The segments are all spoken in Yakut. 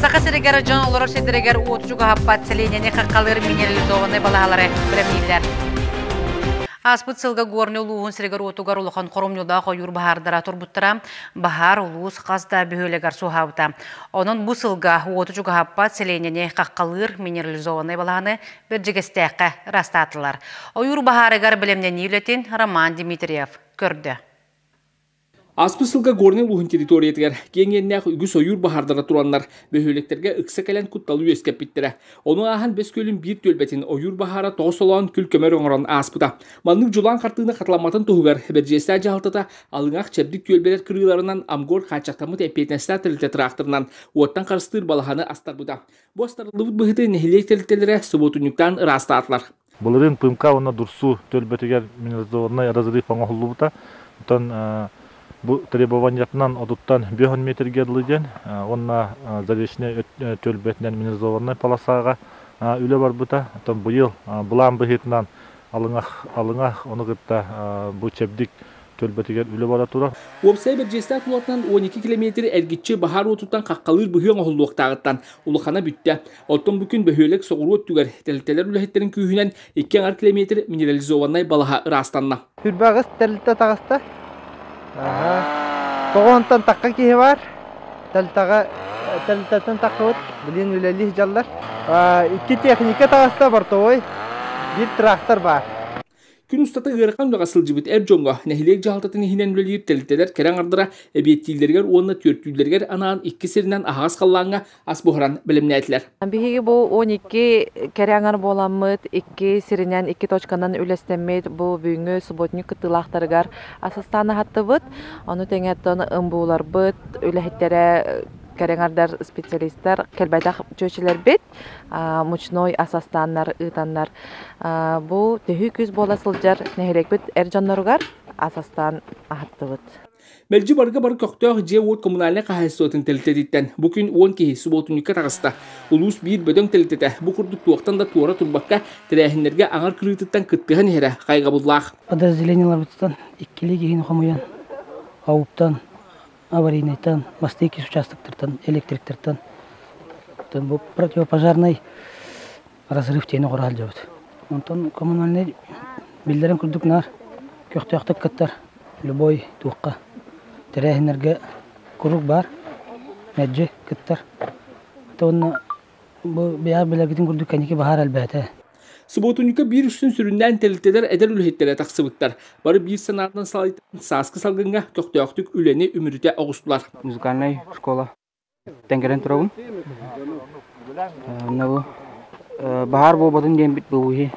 Саха сиригэр дьон олорор сирдэригэр уот чугаһаппат сэлиэнньэни хаххалыыр минерализованнай балаһалары бэлэмнииллэр. Ааспыт сылга Горнай улууһун сиригэр уотугар улахан хоромньулаах ойуур баһаардара турбуттара баһаар улуус хас да бөһүөлэгэр суоһаабыта. Онон бу сылга уоту чугаһаппат сэлиэнньэни хаххалыыр минерализованнай балаһаны Бэрдьигэстээххэ ыраастаатылар. Ойуур баһаарыгар бэлэмнэнии үлэтин Роман Дмитриев көрдө. Аспыт сылга Горнай улууһун территориятыгар киэҥ иэннээх үгүс ойуур баһаардара тураннар, бөһүөлэктэргэ ыкса кэлэн кутталы үөскэппиттэрэ. Ону ааһан Бэс Күөлүн биир түөлбэтин ойуур баһаара тоҕус олоон күл-көмөр оҥорон ааспыта. Маннык дьулаан хартыына хатыламматын туһугар Бэрдьиэстээх дьаһалтата Алыҥах Чэбдик түөлбэлэр кырыыларынан Амгор хааччахтаммыт эппиэтинэстээх тэрилтэ тыраахтарынан уоттан харыстыыр балаһаны астарбыта. Бу астарыллыбыт быһыты нэһилиэк тэрилтэлэрэ субуотунньуктаан ыраастаатылар. Былырыын Пымка уонна Дурсу түөлбэтигэр минерализованнай разрыв оҥоһуллубута. Оттон бу требованиятынан отуттан бүөһүн метргэ дылы диэн уонна Заречнай түөлбэтинэн минерализованнай полосаҕа үлэ барбыта. Оттон быйыл былаан быһыытынан Алыҥах, Алыҥах ону кытта бу чэбдик түөлбэтигэр үлэ бара турар. Уопсай Бэрдьиэстээх куолатынан уон икки килэмиэтир эргиччи баһаар уотуттан хаххалыыр быһыы оҥоһуллуохтааҕыттан улахана бүттэ. Оттон бу күн бөһүөлэк соҕуруу өттүгэр тэрилтэлэр үлэһиттэрин күүһүнэн икки аҥар километр минерализованнай балаһа ыраастанна. Сүрбэ аҕыс тэрилтэ таҕыста. Тоҕонтан такка киһи бар. Тэрилтэҕэ тэрилтэтин таккыбыт, билин үлэлии дьаллар. Икки техника таҕыста, бортовой, биир трактор бар. Күн устата ыарахан үлэҕэ сылдьыбыт эр дьоҥҥо нэһилиэк дьаһалтатын иһинэн үлэлиир тэрилтэлэр кэрэ аҥардара эбиэттииллэригэр уонна түөртүүллэригэр анаан икки сиринэн аһаҕас халлааҥҥа ас буһаран бэлэмнээтилэр. Биһиги бу он икки кэрэ аҥар буоламмыт, икки сиринэн, икки точканан үлэстэммит бу бүгүҥҥү субботник кыттыылаахтарыгар ас астаан аһаттыбыт. Ону тэҥэттэн МБУларбыт үлэһиттэрэ кэрэ аҥардар специалистар кэлбэтэх чүөчүлэрбит. мучной ас астааннар ыытаннар бу төһүү күүс буола сылдьар нэһилиэкпит эр дьонноругар ас астаан аһаттыбыт Мэлдьи барга бар көхтөөх дьиэ-уот коммунальнай хаһаайыстыбатын тэлитэтиттэн бу күн уон киһи субуотунньукка таҕыста. Улуус биир бөдөҥ тэлитэтэ бу курдук туохтан да туора турбакка, тэрээһиннэргэ аҥар кырыытыттан кыттыһан иһэрэ хайҕабыллаах. Подразделениеларбыттан иккилии киһини хомуйан, ауптан аварийнайтан, мосты иккис участоктартан, электриктартан бу противопожарнай разрыв диэни кура сылдьабыт. Онтон коммунальнай биллэрин курдук наар көхтөөхтүк кыттар любой туохха тэрээһиннэргэ куруук баар мэлдьи кыттар. Ата уонна бу бэйэҕит билэргитин курдук кэнники баһаар элбээтэ. Субуотунньукка биир үстүн сүрүннээн тэрилтэлэр эдэр үлэһиттэрэ тахсыбыттар. Бары биир санаатынан салайтан сааскы салгыҥҥа көхтөөхтүк үлэни үмүрүтэ оҕустулар. Музыкальнай школа Тэҥкэрэн турабын. Онно бу баһаар буолбатын диэн бит бу иһи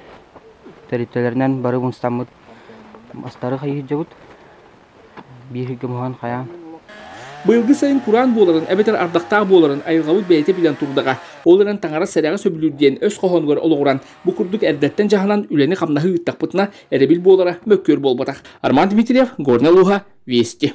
тэрилтэлэринэн бары мустаммыт мастары хайыы сылдьабыт. бииргэ муһан хайаан Быйылгы сайын кураан буоларын, эбэтэр ардахтаах буоларын айылҕабыт бэйэтэ билэн турдаҕа. Ол эрэн таҥара сэрэҕэ сөбүлүүр диэн өс хоһоонугар олоҕуран, бу курдук эрдэттэн дьаһанан үлэни-хамнаһы ыыттахпытына, эрэбил буолара мөккүөр буолбатах. Арман Дмитриев, Горнай улууһа, Вести.